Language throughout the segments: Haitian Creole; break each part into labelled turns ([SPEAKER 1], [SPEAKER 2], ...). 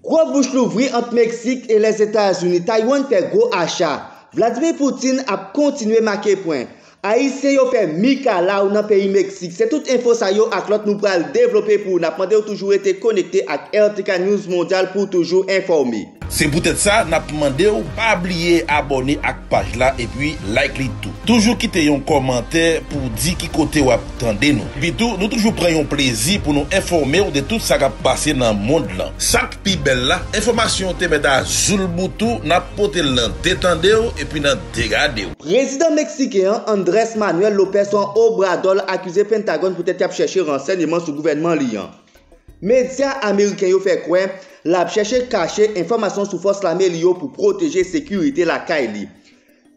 [SPEAKER 1] Gwo bouch louvri ant Meksik e Lèzetazini, Taiwan fè gwo acha, Vladimir Poutine ap kontinye make pwen, Ayisyen yo fè mikalaw nan peyi Meksik se tout enfo sa yo ak lòt nou pral devlope pou ou nap mandew toujou rete konekte ak RTK News Mondyal pouw toujou enfòme. Se poutèt sa
[SPEAKER 2] nap mandew pa bliye abòne ak paj la epi like li tou. Toujou kite yon kòmantè pouw di ki kote wap. tande nou. Epitou, nou toujou pran yon plezi pou nou enfòme w de tout sa k ap pase nan mond lan. Sa k pi bèl la, enfòmasyon yo te mèt a zoulboutou, n ap pote l nan de tande w epi nan de gade w. Prezidan Meksiken
[SPEAKER 1] an, Andrés Manuel López Obrador akize Pentagòn poutèt y ap chèche ransèyman sou gouvènman li an. Medya ameriken yo fè kwè l ap chèche kache enfòmasyon sou fòs lame li yo pou pwoteje sekirite lakay li.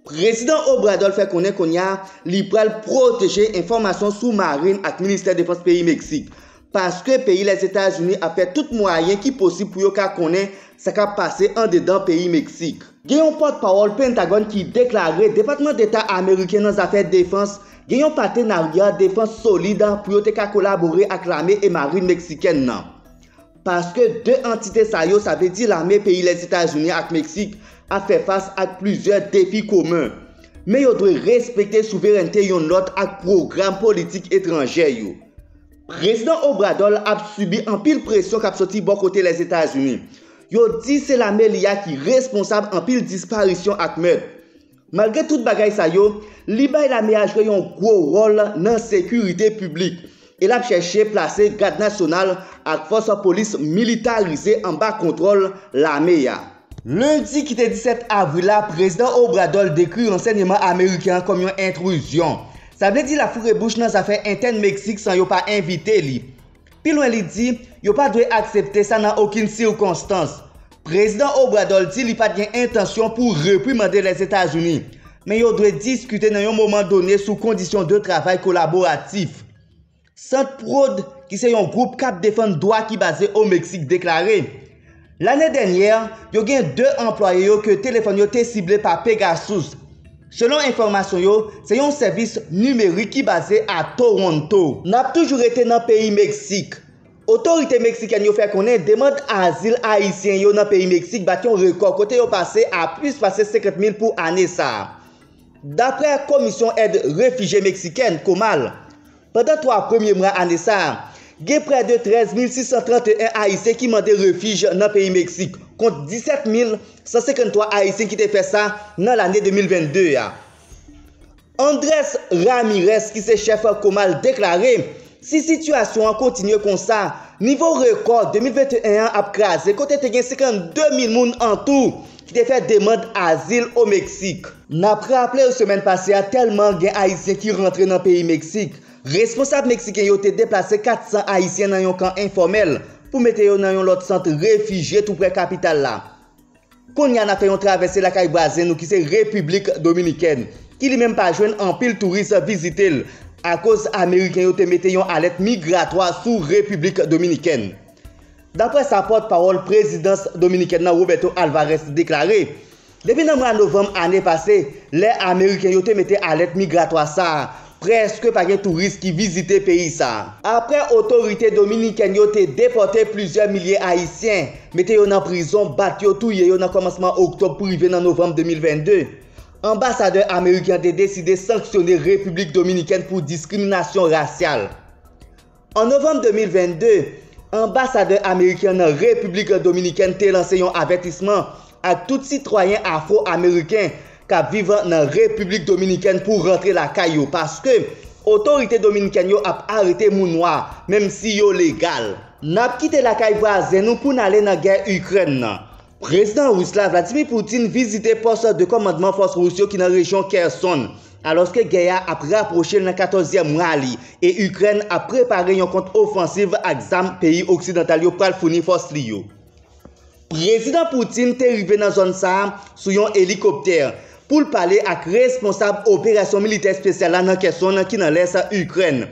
[SPEAKER 1] Prezidan Obrador fè konnen kounye a li pral pwoteje enfòmasyon sou Marin ak Ministè Defans peyi Meksik, paske peyi Lèzetazini ap fè tout mwayen ki posib pou yo ka konnen sa k ap pase andedan peyi Meksik. Gen yon pòtpawòl Pentagòn ki deklare Depatman Deta Ameriken nan zafè defans gen yon patenarya defans solid pou yo te ka kolabore ak lame e marin Meksikèn nan. Paske 2 antite sa yo, sa vle di lame peyi Lèzetazini ak Meksik, ap fè fas ak plizyè defi komen. Men yo dwe respekte souverènte youn lòt ak pwogram politik etranjè yo. Prezidan Obrador ap sibi anpil presyon k ap soti bò kote Lèzetazini. Yo di se lame li a ki responsab anpil disparisyon ak mèt. Malgre tout bagay sa yo, li bay lame a jwe yon gwo wòl nan sekirite piblik e l ap chèche plase Gad Nasyonal ak fòs polis militarize anba kontwòl lame a. Lendi ki te 17 avril la, Prezidan Obrador dekri ransèyeman ameriken an kòm yon entruzyon. Sa vle di l ap foure bouch nan zafè entèn Meksik san yo pa envite li. Pi lwen li di, yo pa dwe aksepte sa nan okin sikonstans. Prezidan Obrador di li pat gen entansyon pou reprimande Lèzetazini, men yo dwe diskite nan yon moman done sou kondisyon de travay kolaboratif. Sant Prod, ki se yon gwoup kap defann dwa ki baze o Meksik deklare, Lane dènyè, yo gen 2 anplwaye yo ke telefòn yo te sible pa Pegasus. Selon enfòmasyon yo, se yon sèvis nimerik ki baze a Toronto. N ap toujou rete nan peyi Meksik. Otorite meksikèn yo fè konnen demand azil ayisyen yo nan peyi Meksik bat yon rekò kote yo pase a plis pase 50 mil pou ane sa a. Daprè Komisyon Èd Refijye Meksikèn, Comal, Pandan 3 premye mwa ane sa a, gen prè de 13 mil 631 ayisyen ki mande refij nan peyi Meksik, kont 17 mil 153 ayisyen ki te fè sa nan lane 2022 a. Andrés Ramírez ki se chèf Comal deklare si sitiyasyon an kontinye konsa, nivo rekò 2021 an ap kraze kote te gen 52 mil moun antou ki te fè demand azil o Meksik. N ap raple w semèn pase a tèlman gen ayisyen ki rantre nan peyi Meksik, responsab meksiken yo te deplase 400 ayisyen nan yon kan enfòmèl pou mete yo nan yon lòt sant refijye toupre kapital la. Konnya n ap fè yon travèse lakay vwazen nou ki se Repiblik Dominikèn ki li menm pa jwenn anpil touris vizite l akoz ameriken yo te mete yon alèt migratwa sou Repiblik Dominikèn. Daprè sa pòt pawòl prezidans dominikèn nan Roberto Alvarez deklare, depi nan mwa novanm ane pase, lè ameriken yo te mete alèt migratwa sa a, prèske pa gen touris ki vizite peyi sa a. Aprè otorite dominikèn yo te depòte plizyè milye ayisyen, mete yo nan prizon, bat yo, touye yo nan kòmansman oktòb pou rive nan novanm 2022, anbasadè ameriken an te deside sanksyone Repiblik Dominikèn pou diskriminasyon rasyal. An novanm 2022, anbasadè ameriken an nan Repiblik Dominikèn te lanse yon avètisman ak tout sitwayen afro-ameriken k ap viv nan Repiblik Dominikèn pou rantre lakay yo paske otorite dominikèn yo ap arete moun nwa menm si yo legal. N ap kite lakay vwazen nou pou n ale nan gè Ikrèn nan, Prezidan Ris la, Vladimir Putin vizite pòs de kòmandman fòs Ris yo ki nan rejyon Kherson, alòske gè a ap rapwoche l nan katòzyèm mwa li e Ikrèn ap prepare yon kont ofansiv ak zam peyi oksidantal yo pral founi fòs li yo. Prezidan Putin te rive nan zòn sa a sou yon elikoptè pou l pale ak responsab operasyon militè espesyal la nan Kherson ki nan lès Ikrèn.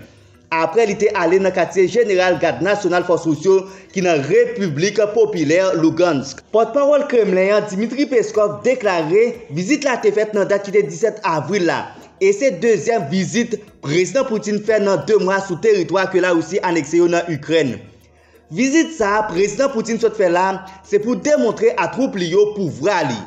[SPEAKER 1] Apre li te ale nan katye jeneral Gad Nasyonal Fòs Rous yo ki nan Repiblik Popilè Lugansk. Pòtpawòl Kremlen an, Dmitry Peskov, deklare vizit la te fèt nan dat ki te 17 avril la, e se dezyèm vizit Prezidan Putin fè nan 2 mwa sou teritwa ke Larisi anekse yo nan Ikrèn. Vizit sa a Prezidan Putin sot fè la, se pou demontre a twoup li yo pouvwa li.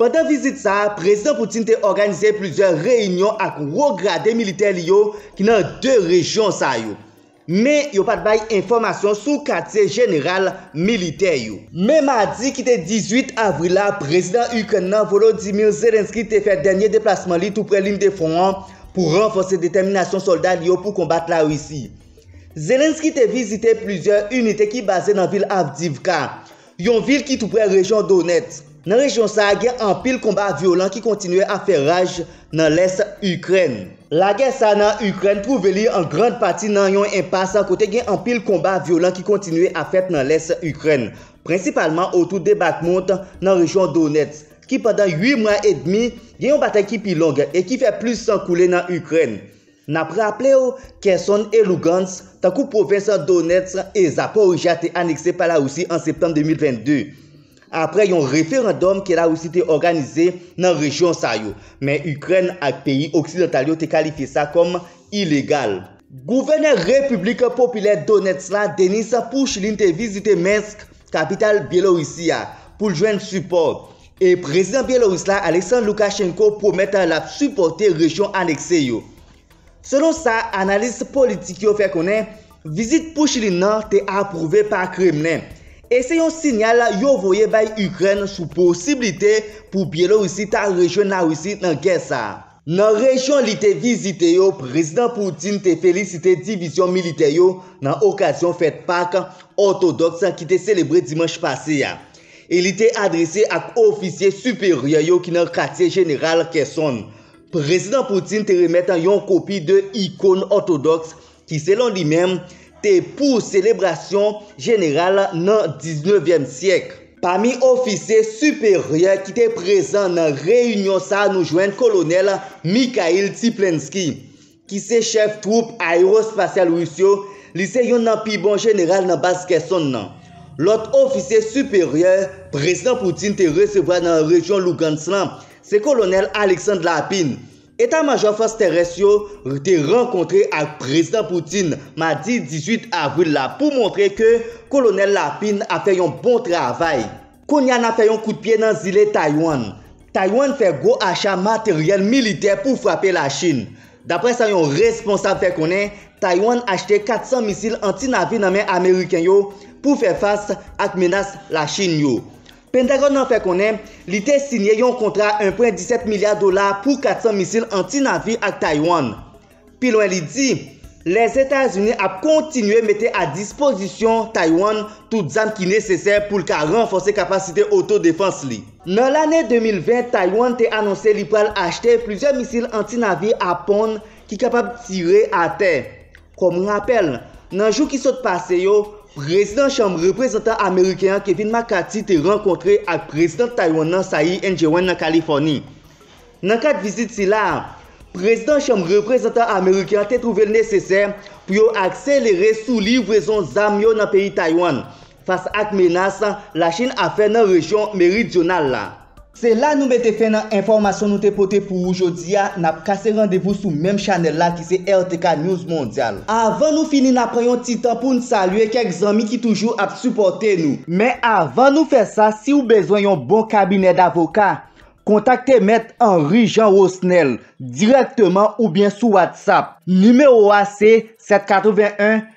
[SPEAKER 1] Pandan vizit sa a, Prezidan Putin te òganize plizyè reyinyon ak wo grade militè li yo ki nan 2 rejyon sa yo. Men, yo pa t bay enfòmasyon sou katye jeneral militè yo. Men madi ki te 18 avril la, Prezidan Ikrèn nan, Volodymyr Zelenskyy te fè dènye deplasman li toupre lin de fwon an pou ranfòse detèminasyon sòlda li yo pou konbat Larisi. Zelenskyy te vizite plizyè inite ki baze nan vil Avdiivka, yon vil ki toupre rejyon Donetsk. Nan rejyon sa a gen anpil konba vyolan ki kontinye ap fè raj nan lès Ikrèn. Lagè sa a nan Ikrèn twouve li an grand pati nan yon enpas kote gen anpil konba vyolan ki kontinye ap fèt nan lès Ikrèn, prensipalman otou de Bakhmut nan rejyon Donetsk, ki pandan 8 mwa edmi gen yon batay ki pi long e ki fè plis san koule nan Ikrèn. N ap raple w, Kherson e Lugansk, tankou pwovens Donetsk e Zaporijjia te anekse pa Larisi an septanm 2022, apre yon referandòm ke Larisi te òganize nan rejyon sa yo, men Ikrèn ak peyi oksidantal yo te kalifye sa kòm ilegal. Gouvènè Repiblik Popilè Donetsk la, Denys Pushilin te vizite Minsk, kapital Byelorisi a, pou l jwenn sipò. E Prezidan Byelorus la, Alexandre Lukashenko pwomèt l ap sipòte rejyon anekse yo. Selon sa analis politik yo fè konnen, vizit Pushilin nan te apwouve pa Kremlen, e se yon sinyal yo voye bay Ikrèn sou posiblite pou Byelorisi ta rejwenn Larisi nan gè sa a. Nan rejyon li te vizite yo, Prezidan Putin te felisite divizyon militè yo nan okazyon fèt Pak òtodòks ki te selebre dimanch pase a, e li te adrese ak ofisye siperyè yo ki nan katye jeneral Kherson. Prezidan Putin te remèt yon kopi de ikon òtodòks ki selon li menm te pou selebrasyon jeneral nan diznevyèm syèk. Pami ofisye siperyè ki te prezan nan reyinyon sa nou jwenn kolonèl Mikhail Tiplensky, ki se chèf twoup aewospasyal ris yo, li se youn nan pi bon jeneral nan baz Kherson nan. Lòt ofisye siperyè Prezidan Putin te resevwa nan rejyon Lugansk lan, se kolonèl Alexandre Lapine, Eta majò fòs terès yo te rankontre ak Prezidan Putin madi 18 avril la pou montre ke Kolonèl Lapin ap fè yon bon travay. Kounye a n ap fè yon kout pye nan zile Taywann. Taywann fè gwo acha materyèl militè pou frape Lachin. Daprè sa yon responsab fè konnen, Taywann achte 400 misil anti-navi nan men Ameriken yo pou fè fas ak menas Lachin yo. Pentagòn nan fè konnen li te siyen yon kontra 1.17 milya dola pou 400 misil anti-navi ak Taiwan. Pi lwen li di, Lèzetazini ap kontinye mete a dispozisyon Taiwan tout zam ki nesesè pou l ka ranfòse kapasite oto-defans li. Nan lane 2020, Taiwan te anonse li pral achte plizyè misil anti-navi Apon ki kapab tire atè. Kòm rapèl, nan jou ki sot pase yo, Prezidan Chanm Reprezantan ameriken an Kevin McCarthy te rankontre ak Prezidant Taywann nan Tsai Ing-wen nan Kalifòni. Nan kad vizit sila a, Prezidan Chanm Reprezantan ameriken an te twouve l nesesè pou yo akselere sou livrezon zam yo nan peyi Taywann, Fas ak menas Lachin ap fè nan rejyon meridyonal la. Se la nou mete fen nan enfòmasyon nou te pote pou ou jodi a, nap kase randevou sou menm chanèl la ki se RTK News Mondyal. Avan nou fini na pran yon ti tan poun salye kèk zanmi ki toujou ap sipòte nou. Men avan nou fè sa siw bezwen yon bon kabinè davoka, kontakte mèt Henry Jean Rosnel dirèkteman oubyen sou WhatsApp. Nimewo a se 781